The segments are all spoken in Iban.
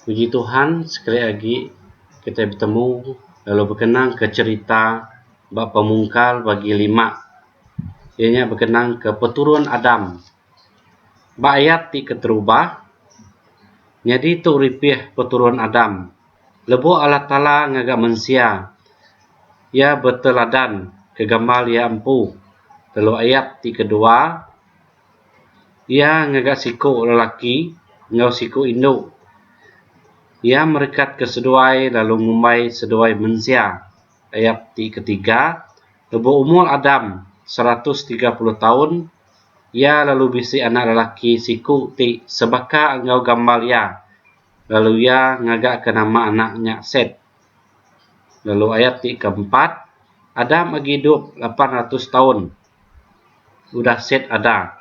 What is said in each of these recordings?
Puji Tuhan sekali agi kitai betemu lalu bekenang ke cherita ba pemungkal bagi lima iya nya bekenang ke peturun Adam. Ba ayat ti keterubah nyadi tu ripih peturun Adam lebu Allah Taala ngaga mensia iya beteladan ke gamal iya empu lalu ayat ti kedua Iya ngaga siku lelaki enggau siku indu. Iya merekat ke seduai lalu ngumbai seduai mensia, ayat ti ketiga, lebuh umur Adam seratus tiga puluh taun, iya lalu bisi anak lelaki siku ti sebaka enggau gambar iya, lalu iya ngagaka nama anak nya Set. Lalu ayat ti keempat, Adam agi idup lapan ratus taun. udah set ada.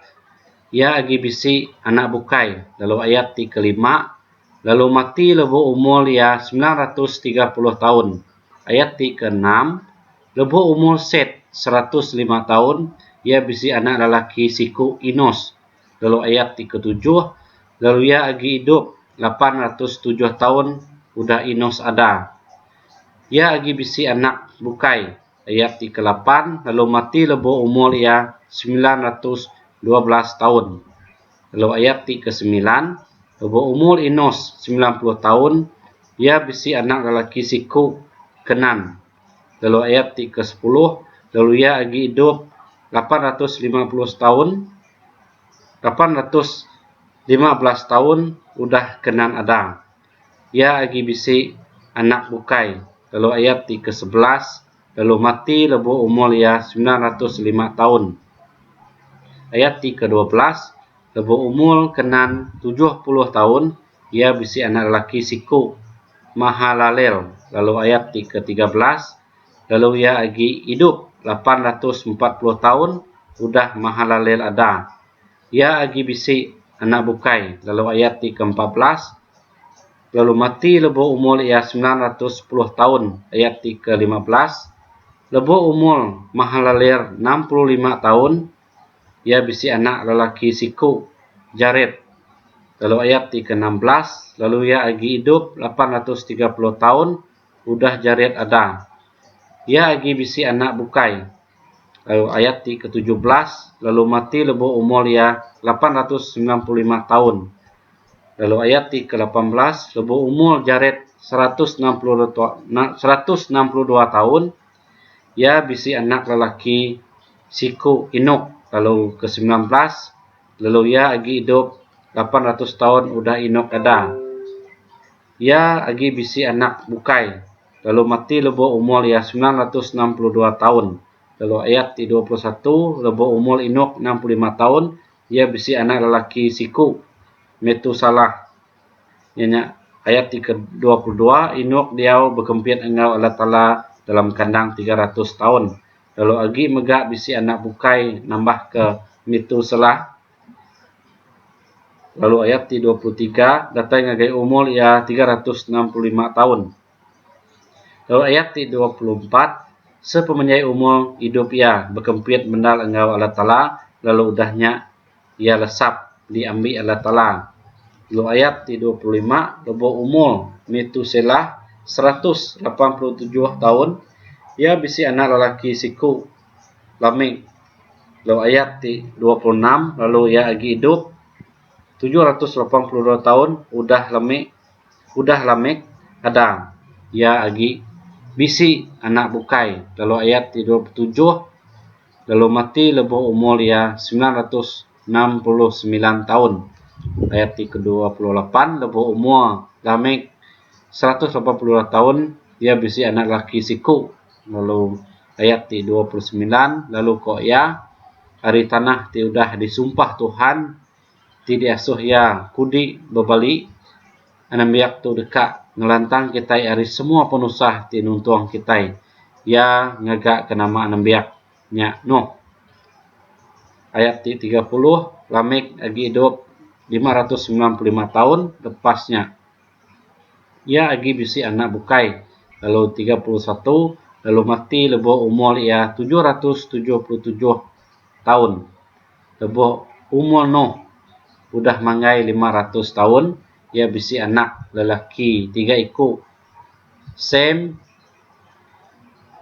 Iya agi bisi anak bukai lalu ayat ti kelima lalu mati lebu umur iya semilan ratus tiga puluh taun. Ayat ti keenam, lebu umur Set seratus lima taun, iya bisi anak lelaki siku Enos. Lalu ayat ti ketujuh, lalu iya agi idup lapan ratus tujuh taun udah Enos ada. Iya agi bisi anak bukai. ayat ti kelapan lalu mati lebu umur iya semilan ratus dua belas taun. Lalu ayat ti kesemilan, lebu umur Enos semilan puluh taun, iya bisi anak lelaki siku, Kenan. Lalu ayat ti kesepuluh, lalu iya agi idup lapan ratus lima puluh setaun, lapan ratus lima belas taun udah Kenan ada. Iya agi bisi anak bukai lalu ayat ti ke sebelas lalu mati lebuh umur iya semilan ratus lima taun. Ayat ti ke dua belas lebuh umur Kenan tujuh puluh taun iya bisi anak lelaki siku, Mahalalel lalu ayat ti ke tiga belas lalu iya agi idup lapan ratus empat puluh taun udah Mahalalel ada. Iya agi bisi anak bukai, lalu ayat ti ke empat belas, lalu mati lebuh umur iya semilan ratus sepuluh taun, ayat ti ke lima belas, lebuh umur Mahalalér enam puluh lima taun, iya bisi anak lelaki siku, Jared, lalu ayat ti ke enam belas, lalu iya agi idup lapan ratus tiga puluh taun udah Jared ada. Iya agi bisi anak bukai, lalu ayat ti ketujuh belas lalu mati lebu umur iya lapan ratus semilan puluh lima taun lalu ayat ti ke lapan belas lebu umur Jared seratus enam puluh dua seratus enam puluh dua taun iya bisi anak lelaki siku Enok lalu ke semilan belas lalu iya agi idup lapan ratus taun udah Enok ada iya agi bisi anak bukai. lalu mati lebuh umur iya semilan ratus enam puluh dua taun. Lalu ayat ti dua puluh satu, Lebuh umur Enok enam puluh lima taun, iya bisi anak lelaki siku, Metusalah. Iya nya ayat ti ke dua puluh dua, Enok diau bekempit enggau Allah Taala dalam kandang tiga ratus taun, lalu agi mega bisi anak bukai nambahka Metusalah. Lalu ayat ti 23 datai ngagai umur iya 365 taun. Lalu ayat ti 24 sepemenjai umur idup iya bekempit mendar enggau Allah Taala lalu udah nya iya lesap diambi Allah Taala. Lalu ayat ti 25 lebu umur Metuselah 187 taun iya bisi anak lelaki siku. lamik lalu ayat ti dua puluh enam lalu iya agi idup tujuh ratus lapan puluh dua taun udah lamik udah lamik adang iya agi bisi anak bukai lalu ayat ti dua puluh tujuh lalu mati lebuh umur iya semilan ratus enam puluh semilan taun ayat ti ke dua puluh lapan lebuh umur lamik seratus lapan puluh dua taun iya bisi anak laki siku lalu ayat ti dua puluh semilan lalu ko iya ari tanah ti udah disumpah Tuhan ti diasuh iya kudi bebali anembiak tu deka ngelantang kitai ari semua penusah ti nuntung kitai iya ngaga ke nama anembiak nya Noh ayat ti tiga puluh Lamek agi idup lima ratus semilan puluh lima taun lepas nya Iya agi bisi anak bukai lalu tiga puluh satu lalu mati lebuh umur iya tujuh ratus tujuh puluh tujuh taun. Lebuh umur Noh udah manggai lima ratus taun, iya bisi anak lelaki tiga iku, Sem,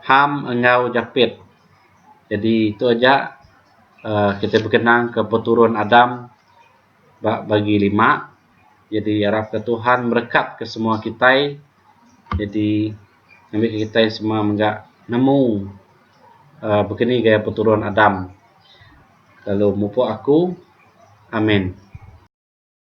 Ham enggau Japet. Jadi tu aja aaa kita bekenang ke peturun Adam ba Bagi Lima. Jadi arap ke Tuhan merekat ke semua kitai. Jadi ngambi ke kitai semua mega nemu uh, begini gaya peturun Adam. Lalu mupuk aku. Amin.